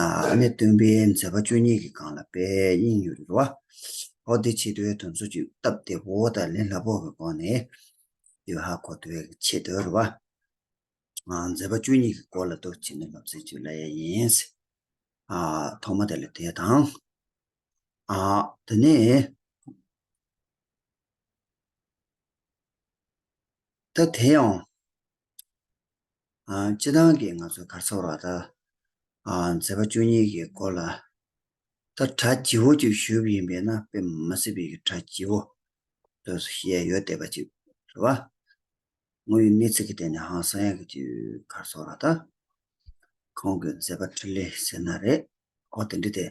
ཨ་ནེ་སྟོན་པས་མཛད་པ་བཅུ་གཉིས་ཀྱི་སྒང་ལ་དཔལ་དབྱིངས་གཡུ་རུ་བ། ཧོ་ཏི་ཆེ་བསྟོད་དོན་གསོ་བཅུད་བཏབ་སྟེ་བོ་དང་ལི་ལྷ་བོ་གི་སྒོ་ནས། ཡོད་ཧ་གོ་ཏི་བའི་ཆེ་བསྟོད་རུ་བ། མཛད་པ་བཅུ་གཉིས་ཀྱི་སྐོར་ལ་འདུག་བྱེད་ནི་ལབ་ཙེ་བཅུ་ལ་ཡ་ཡིན། ཐོག་མ་དེ་ལ་དེ་དང། དེ་ནས། ད་དེ་ཡང། སྤྱི་བཏང་གིས་ང་ཚོ་གར་འཚོགས་ལ་ད་མཛད་པ་བཅུ་གཉིས་ཀྱི་སྐོར་ལ། ད་གྲ་བགྱི་བོ་ཅིག་ཞུ་ཡིན་པས་ན་དཔེ་མ་སྲིད་པའི་གྲ་བགྱི་བོ་ཟེར་སོ་ཞེས་ཡོད་བསྡད་པ་ཅིག་ཟེར་བ། ངོ་ཡི་གནས་ཚིག་གི་སྟེང་ནས་ཧང་སང་ཡག་གི་ཅིག་གར་འཚོགས་ལ་ད། ཁོང་གི་མཛད་པ་ཁྲི་ལེ་ཟེར་ན་རེད་ཨོ་དེ་འདྲི་སྟེ།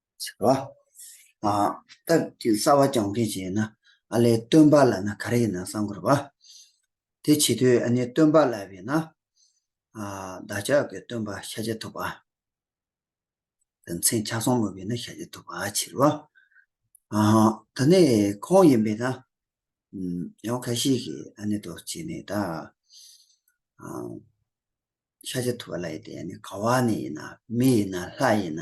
ཟེར་བ། སྟག་གི་རྩ་བ་རྐྱང་འཕེན་བྱེད་ན་ཨ་ལས་སྟོན་པ་ལ་ན་ག་རེ་ཡིན་ན་བསམ་དགོས་པ། དེ་བྱེད་དུས་ཨ་ནི་སྟོན་པ་ལ་བས་ན་བདག་ཅག་གི་སྟོན་པ་ཤ་ཇེ་ཐུབ་པ། དེ་མཚན་ཆ་སོང་མོད་བས་ན་ཤ་ཇེ་ཐུབ་པ་ཕྱིར་རོ། ད་ནི་ཁོང་ཡིན་པས་ན་ཡང་ཁ་ཤས་ཀྱིས་ཨ་ནི་དོ་བྱེད་ནི་ད་ཤ་ཇེ་ཐུབ་པ་ལ་ཡིན་ཏེ་ཨ་ནི་ག་བ་ནས་ཡིན་ན་མི་ཡིན་ན་ལྷ་ཡིན་ན་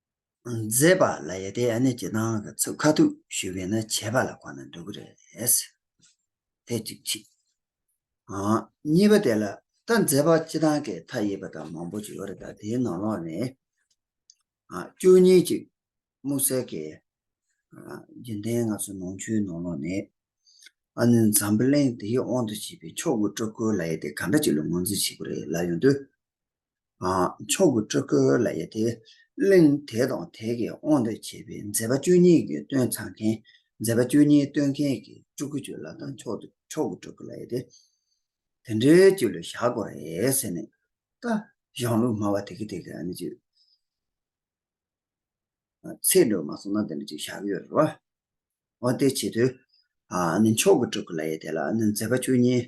མཛེས་པ་ལ་ཡ་དེ་ཡ་ནི་ཇེ་ཐང་གི་ཚུགས་ཁ་ཐུག་ཞུས་པས་ན་བྱས་པ་ལ་གོ་ན་འགྲོ་གི་རེད། དེ་གཅིག་གཅིག། གཉིས་པ་དེ་ལ་ད་མཛེས་པ་སྤྱི་ཐང་གི་མཐའ་ཡས་པ་དང་མང་པོ་ཅིག་ཡོད་རེད་ད་དེའི་ནང་ལོགས་ནས་བཅུ་གཉིས་ཅིག་དམུ་གསལ་གི་རྒྱུན་ལྡན་ང་ཚོ་ནང་ཆོས་ནང་ལོགས་ནས་ཨ་ནུ་འཛམ་བུ་གླིང་དེའི་དབང་དུ་བྱས་པའི་མཆོག་གི་སྤྲུལ་སྐུ་ལ་ཡ་དེ་ག་འདྲ་ཅིག་ལ་ངོས་འཛིན་བྱེད་གི་རེད་ལབ་ཡོང་དུས། མཆོག་གི་སྤྲུལ་སྐུ་ལ་ཡོད་དེ། གླིང་དེ་དང་དེ་གའི་དབང་དུ་བྱས་པའི་མཛད་པ་བཅུ་གཉིས་ཀྱི་སྟོན་ཚང་མཁན། མཛད་པ་བཅུ་གཉིས་སྟོན་མཁན་གྱི་སྤྲུལ་སྐུ་བཅུ་ལ་དང་མཆོག་ཏུ་མཆོག་གི་སྤྲུལ་སྐུ་ལ་ཡོད་དེ། དེ་འདྲའི་བཅུ་ལ་བཞག་གོ་རེད་ཟེར་ནས། ད་གཞུང་ལུགས་སྨྲ་བ་དེ་གས་དེ་གས་ཨ་ནི་བཅུ། ཚེས་འགྲོ་མ་སོང་ན་དེ་འདྲ་བཅུ་བཞག་གི་ཡོད་རེད་བ། འོ་དེའི་ཆེད་དུ། ཨ་ནི་མཆོག་གི་སྤྲུལ་སྐུ་ལ་ཡོད་དེ་ལ་ཨ་ནི་མཛད་པ་བཅུ་གཉིས།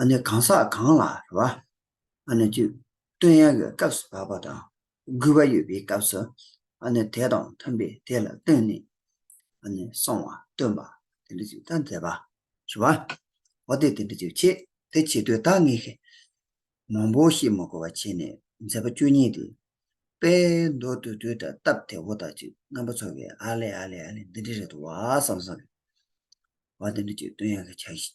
ཨ་ནི་གང་ཟག་གང་ལ་རེ་བ་ཨ་ནི་བཅུདཔྟོན་ཡང་ཡོད་སྐབས་སུ་བབ་པ་དང་རྒུད་པ་ཡོད་པའི་སྐབས་སུ་ཨ་ནི་དེ་དང་མཐུན་པའི་དེ་ལ་བཏོན་ནས་ཨ་ནི་གསང་བ་སྟོན་པ་དེ་འདྲ་ཅིག་ད་མཛད་པ། ཞུ་བ། འོ་དེ་དེ་འདྲ་ཅིག་བྱེད་དེ་བྱེད་དུས་དག་ངེས་ཤིག། མང་པོ་ཞིག་མ་གོ་བ་བྱས་ནས་མཛད་པ་བཅུ་གཉིས་ཏེ། དཔལ་མདོ་དུར་ཁྲོད་དུ་སྟབས་བདེ་བོ་དག་ཅིག་རྣམ་པ་ཚོགས་ཀྱིས་ཨ་ལེ་ཨ་ལེ་ཨ་ལེ་འདི་འདྲའི་རེ་དོ་བ་བསམ་བསམ། བ་དེ་འདྲ་ཅིག་བཏོན་ཡང་གི་བྱ་ཞིག།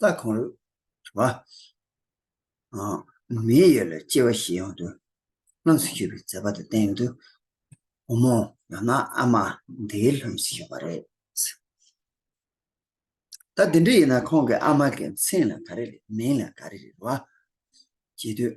རྩ་གང་རུང་བ། མེའི་ཡུལ་ལ་སྐྱེ་བ་བཞི་ཡང་དུ། ལྷུམས་སུ་གྱུར་པའི་མཛད་པ་དང་བསྟན་དུ་འོང་མོ། ཡང་ན་ཨ་མ་འདིའི་ལྷུམས་སུ་གྱུར་པ་རེད། ད་དེ་འདྲ་ཡིན་ན་ཁོང་གི་ཨ་མ་གི་མཚན་ལ་ག་རེ་རེད་མིང་ལ་ག་རེ་རེད་བ། བྱེད་དུས།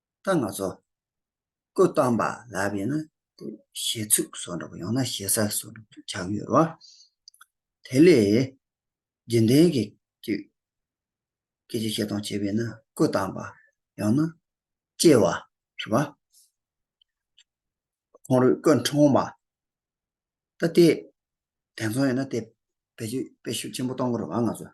ད་ང་ཚོ་སྐུ་བལྟམས་པ་ལ་བས་ན་ཞེ་ཚུགས་བཟོ་འགྲོ་ཡང་ན་ཞེ་ས་བཟོ་འགྲོ་དུ་ཆགས་ཡོད་རོ། དེ་ལས་རྗེས་འདྲེན་གྱི་དུས་སྐད་ཅིག་བཤད་སྟངས་བྱས་པས་ན་སྐུ་བལྟམས་པ་ཡང་ན་སྐྱེ་བ་ཞེས་པ། ཁོང་རུས་སྐུ་འཁྲུངས་པ་ད་ལྟའི་དེང་སང་ཡིན་ན་དེ་བེད་སྤྱོད་དཔེ་ཤུགས་ཆེན་པོ་གཏོང་གི་རེད་བ་ང་ཚོས།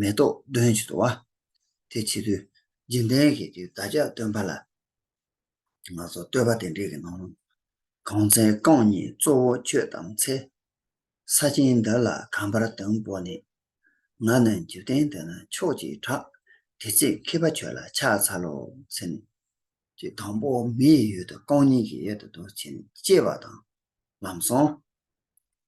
མེ་ཏོག་འདོན་བྱེད་དུ་བ། དེ་བྱེད་དུས་འཇིན་རྟེན་གྱི་དུས་བདག་ཅག་སྟོན་པ་ལ། སྔགས་སོགས་བསྟོད་པ་དེ་འབྲེལ་གྱི་ནང་ལུང། གང་ཚེ་རྐང་གཉིས་གཙོ་བོ་ཁྱོད་དང་འཚེ། ས་ཆེན་འདི་ལ་གང་བར་དོན་པོ་ནི། ང་ནི་འཇིག་རྟེན་འདི་ན་ཕྱོགས་ཀྱིས་གྲགས། དེ་ཚེ་མཁས་པ་ཁྱོད་ལ་ཕྱག་འཚལ་ལོ། ཟེར་ནས། ཀྱི་དང་པོ་མི་ཡི་ཡུལ་དུ་རྐང་གཉིས་ཀྱི་ཡད་དུ་འདུག་ཅེས་པ་དང་ལམ་སོང།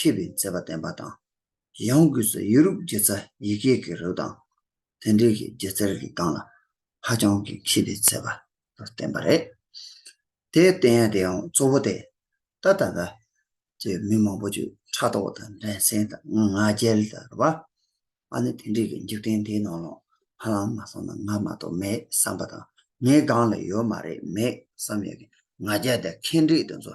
མཁས་པའི་མཛད་པ་བསྟན་པ་དང། ཡང་སྒོས་སུ་ཡེ་རུབ་རྒྱལ་ཚ་ཡི་གེ་གི་རིགས་དང་དེ་འབྲེལ་གྱི་སྒྱུ་རྩལ་གྱི་སྟངས་ལ་ཧ་ཅང་གི་མཁས་པའི་མཛད་པ་དུ་བསྟན་པ་རེད། དེའི་བསྟན་ཡང་དེའང་གཙོ་བོ་སྟེ། ད་ལྟ་བར་གྱི་མི་མང་པོ་ཆོས་ཕྲ་དོག་དང་འགྲན་སེམས་དང་ང་རྒྱལ་དར་བ། ཨ་ནི་དེ་འབྲེལ་གྱི་འཇིག་རྟེན་འདིའི་ནང་ལ་ཧ་ལམ་མ་སོང་ན་ང་མ་གཏོགས་མེད་བསམ་པ་དང་ངའི་སྒང་ལ་ཡོད་མ་རེད་མེད་བསམ་ཡོད་ཀྱི་ང་རྒྱལ་དང་ཁེངས་དྲེགས་དེ་ཚོ་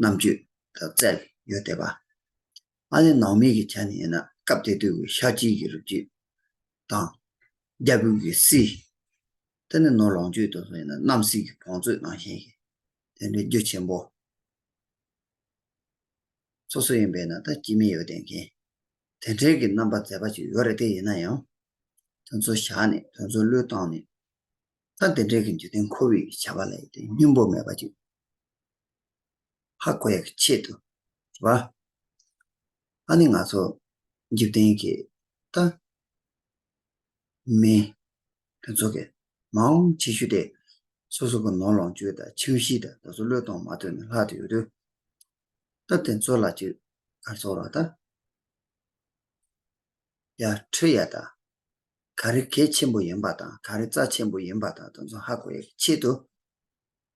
རྣམ་དཔྱོད་དང་རྩལ་ཡོད་དད་པ། ཨ་ལས་ནང་མི་གི་ཆ་ནས་ཡིན་ན་སྐབས་དེ་དུས་ཀྱི་ཤག་སྐྱིད་ཀྱི་རུ་སྐྱིད་དང། རྒྱ་བོད་ཀྱི་སྲིད། དེ་ནས་ནོར་ལོངས་སྤྱོད་དུ་སོང་ཡིན་ན་རྣམ་སྲས་ཀྱི་བང་མཛོད་ནང་ཞེན་ཞིག་དེ་འདྲའི་རྒྱུ་ཆེན་པོ། སོ་སོ་ཡིན་པས་ན་ད་སྐྱིད་མི་ཡོད་བསྡད་མཁན་དེ་འདྲའི་གི་རྣམ་པ་མཛེས་པ་ཅིག་ཡོད་རེད་དེ་ཡིན་ན་ཡང་དོན་ཚོ་བཞག་ནས་དོན་ཚོ་བློས་བཏང་ནས་ད་དེ་འདྲའི་གི་འཇུ་བསྟེན་ཁོ་བོས་ཀྱི་བྱ་བ་ལ་ཡོད་དོན་སྙིང་པོ་མེད་པ་ཅིག། ཧ་གོ་ཡག་གི་ཆེད་དུ་རེད་བ། ཨ་ནི་ང་ཚོ་འཇིག་རྟེན་གྱི་ཏཱ་མི་ཕུན་ཚོགས་ཀྱི་མ་འོངས་ཆེ་ཤོས་དེ་སོ་སོ་གི་ནོར་ལོངས་སྤྱོད་དང་ཁྱིམ་གཞིས་དང་ད་སོ་བློས་གཏོང་མ་ཐུབ་ནས་ལྷག་ཏུ་ཡོད་དུས། སྟབས་དེ་ཚོ་ལ་ཅིག་གར་ཚོར་བ་དང། ཡ་འཁྲུལ་ཡ་དང། ག་རེ་གལ་ཆེན་པོ་ཡིན་པ་དང་ག་རེ་རྩ་ཆེན་པོ་ཡིན་པ་དང་ད་ཚོ་ཧ་གོ་ཡག་གི་ཆེད་དུ་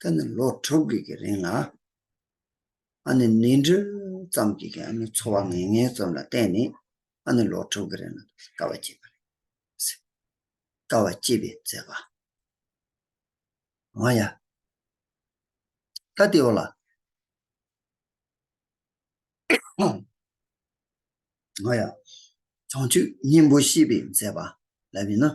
ད་ནི་ལོ་དྲུག་གི་གི་རིང་ལ་ཨ་ནི་ནི་འབྲུ་ཙམ་གྱི་གི་ཨ་ནི་འཚོ་བ་ངན་ངན་ཙམ་ལ་བརྟེན་ནས་ཨ་ནི་ལོ་དྲུག་གི་རིང་ལ་དཀའ་བ་སྤྱད་པ་རེད། ཟེར། དཀའ་བ་སྤྱད་པའི་མཛད་པ། མ་ཡ། ད་ལྟའི་བར་ལ། མ་ཡ། བྱང་ཆུབ་སྙིང་པོ་ཤེས་པའི་མཛད་པ་ལབ་ཡིན་ན།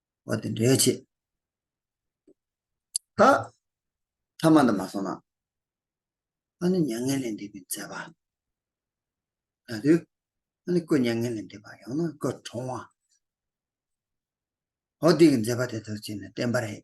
བ་དེ་འདྲའི་ཆེད་ད་ཐ་མ་དུ་མ་སོང་ན་ཨ་ནི་མྱ་ངན་ལས་འདས་པའི་མཛད་པ་ད་དུ་ཨ་ནི་སྐུ་མྱ་ངན་ལས་འདས་པ་ཡང་ན་སྐུ་གྲོང་བ་འོ་འདི་གི་མཛད་པ་དེ་ལྟར་བྱས་ན་བསྟན་པ་རེད།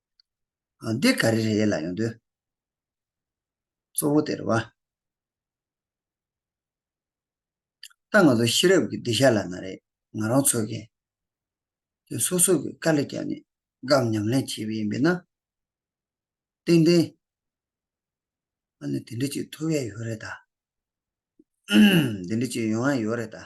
འདི་ག་རེ་རེ་ལ་ཡོང་དོན་གཙོ་བོ་དེར་བ། ད་ང་ཚོ་ཤེས་རབ་ཀྱི་སྡིག་བཤགས་ལ་ན་རེ་ང་རང་ཚོ་གི་དེ་སོ་སོ་གི་དཀའ་ལས་བརྒྱབ་ནས་སྒམ་ཉམས་ལེན་བྱེད་པ་ཡིན་པས་ན། ཏན་ཏན་ང་ནི་དེ་འདྲ་ཅིག་ཐུབ་ཡས་ཡོད་རེད་ད། དེ་འདྲ་ཅིག་ཡོང་ཡས་ཡོད་རེད་ད།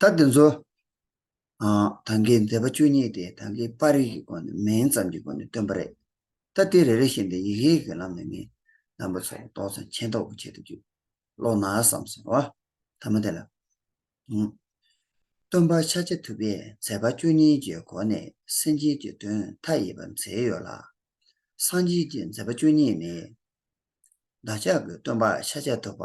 ད་དེ་ཚོ་དང་གི་མཛད་པ་བཅུ་གཉིས་ཏེ་དང་གི་པར་རིས་ཀྱི་སྒོ་ནས་མིང་ཙམ་གྱི་སྒོ་ནས་སྟོན་པ་རེད། ད་དེ་རེ་རེ་བཞིན་དུ་ཡིག་ཡིག་གི་ལམ་ནས་མིང་བདམས་པ་ཚོར་རྟོག་ཚང་མཁྱེན་རྟོགས་པོ་བྱེད་དུ་བཅུག་ལོག་ན་བསམ་སོང་བ་ཐ་མ་དེ་ལ། སྟོན་པ་ཕྱག་རྒྱ་ཐུབ་པས་མཛད་པ་བཅུ་གཉིས་ཀྱི་སྒོ་ནས་སེམས་ཅན་གྱི་དོན་མཐའ་ཡས་པ་མཛད་ཡོད་ལ། སངས་རྒྱས་ཀྱི་མཛད་པ་བཅུ་གཉིས་ནི། བདག་ཅག་གི་སྟོན་པ་ཕྱག་རྒྱ་ཐུབ་པ།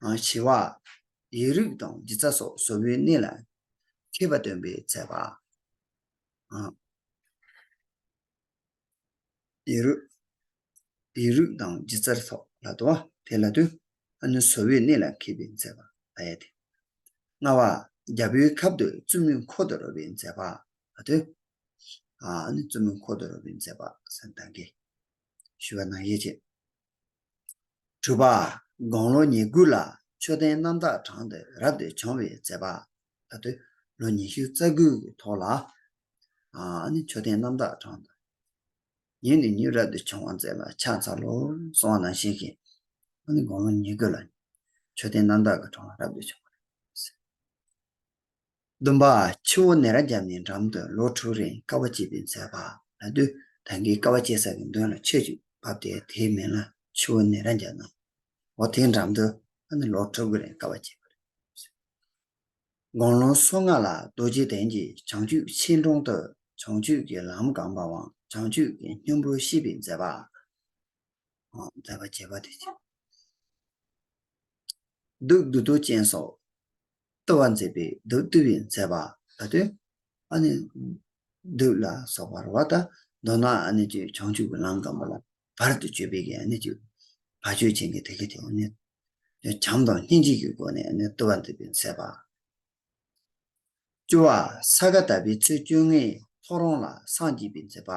བྱེ་བ། ཡིག་རིགས་དང་སྦྱིན་རྩ་སོགས་བཟོ་བོའི་གནས་ལ་མཁས་པ་སྟོན་པའི་མཛད་པ། ཡིག་རིགས་དང་སྦྱིན་རྩ་སོགས་ལ་དོ་བ། དེ་ལ་དོན། ཨ་ནུ་བཟོ་བོའི་གནས་ལ་མཁས་པའི་མཛད་པ། ཨ་ཡ་དེ། ལྔ་བ། རྒྱལ་པོའི་ཁབ་ཏུ་བཙུན་མོའི་འཁོར་དུ་རོལ་བའི་མཛད་པ། ཨ་དོན། བཙུན་མོའི་འཁོར་དུ་རོལ་བའི་མཛད་པ། ཟན་དང་གེ། ཞུ་བ་ནང་གཡས་བཅས། དྲུག་པ། དགུང་ལོ་ཉེར་དགུ་ལ་མཆོད་རྟེན་རྣམ་དག་བགྲང་སྟེ་རབ་ཏུ་བྱུང་བའི་མཛད་པ། ད་དུ་ལོ་ཉི་ཤུ་རྩ་དགུ་གི་ཐོག་ལ་ནི་མཆོད་རྟེན་རྣམ་དག་བགྲང་སྟེ་ཉིན་ནས་ཉིན་རབ་ཏུ་བྱུང་བར་མཛད་པ་ཕྱག་འཚལ་ལོ། གསང་བ་ནང་བཞིན་གྱི་ནི་དགུང་ལོ་ཉེར་དགུ་ལ་མཆོད་རྟེན་རྣམ་དག་གི་གྲོང་ལ་རབ་ཏུ་བྱུང་བ། བདུན་པ། ཆུ་བོ་ནེ་ར་བརྒྱབ་ནས་འགྲམ་དུ་ལོ་དྲུག་རིང་ཀ་བ་བསྐྱེད་པའི་མཛད་པ་ལ་བསྡུ། ད་གིན་ཀ་བ་བསྐྱེད་ས་ཀྱི་མདུན་ལ་ཆོས་ཅིག་བབས་ཏེ་དེའི་མིང་ལ་ཆུ་བོ་ནེ་ར་བརྒྱབ་ན། འོ་དེའི་འགྲམ་དུ་ཨ་ནི་ལོ་དྲུག་རིང་ཀ་བ་བསྐྱེད་པ་རེད། དགོང་ལོ་སོ་ལྔ་ལ་རྡོ་རྗེ་གདན་གྱི་བྱང་ཆུབ་ཆེན་དྲུང་དུ་བྱང་ཆུབ་ཀྱི་ལམ་གང་བ་དབང་བྱང་ཆུབ་ཀྱི་སྙིང་པོ་ཤིས་པའི་མཛད་པ། མཛད་པ་བྱེད་པ་དེ་བྱེད། བདུད་བདུད་དུ་ཅན་སོགས་བཏུ་བ་མཛད་པའི་བདུད་བཏུལ་བའི་མཛད་པ་ད་དུ་ཨ་ནི་བདུད་ལ་སོགས་པར་བ་དང་མདོར་ན་ཨ་ནི་ཅི་བྱང་ཆུབ་ཀྱི་ལམ་དང་པོ་ལ་བར་དུ་གཅོད་པའི་ཨ་ནི་ཅི་བར་གཅོད་བྱེད་ཀྱི་ཐེག་ཆེན་དེ་ནི་བྱམས་དང་སྙིང་རྗེ་ཀྱི་སྒོ་ནས་ཨ་ནི་བཏུ་བ་མཛད་པའི་མཛད་པ། བཅུ་བ། ས་ག་ཟླ་པའི་ཚེས་བཅོ་ལྔའི་ཐོ་རངས་ལ་སངས་རྒྱས་པའི་མཛད་པ།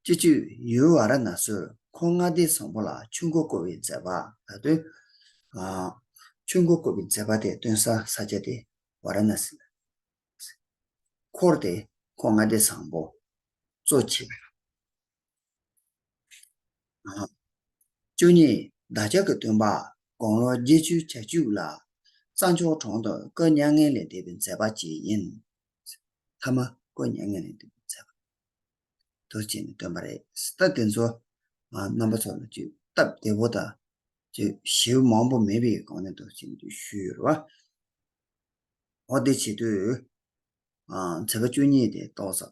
བཅུ་བཅུ། ཡུལ་བ་ར་ན་སུར་ཁོང་མངའ་སྡེ་བཟང་པོ་ལ་ཆུ་མགོ་བསྐོར་བའི་མཛད་པ། ད་དོན། ཆུ་མགོ་བསྐོར་བའི་མཛད་པ་དེ་སྟོན་ས་ས་སྐྱ་སྟེ་བ་ར་ན་སི། འཁོར་དེ་ཁོང་མངའ་སྡེ་བཟང་པོ། གཙོ་བྱས་པའི། བཅུ་གཉིས་བདག་ཅག་གི་སྟོན་པ་དགུང་ལོ་བརྒྱད་བཅུའི་ཆ་བཅུ་ལ། རྩྭ་མཆོག་གྲོང་དུ་བཀོད་མྱ་ངན་ལས་འདས་པའི་མཛད་པ་བྱས་ཡིན། མཐའ་མ་བཀོད་མྱ་ངན་ལས་འདས་པའི་མཛད་པ་དུ་བྱས་ནས་སྟོན་པ་རེད། ལྟ་དེ་ཚོ་རྣམ་པ་ཚོ་ལ་བཅོས་སྟབས་བདེ་བོ་དང་བཅོས་གཞི་མང་པོ་མེད་པའི་སྒང་ནས་དུ་བྱས་ནས་བཅོས་ཞུས་ཡོད་རེད་བ། འོ་དེ་བྱེད་དུས་མཛད་པ་བཅུ་གཉིས་དེ་ཏོག་ཙམ།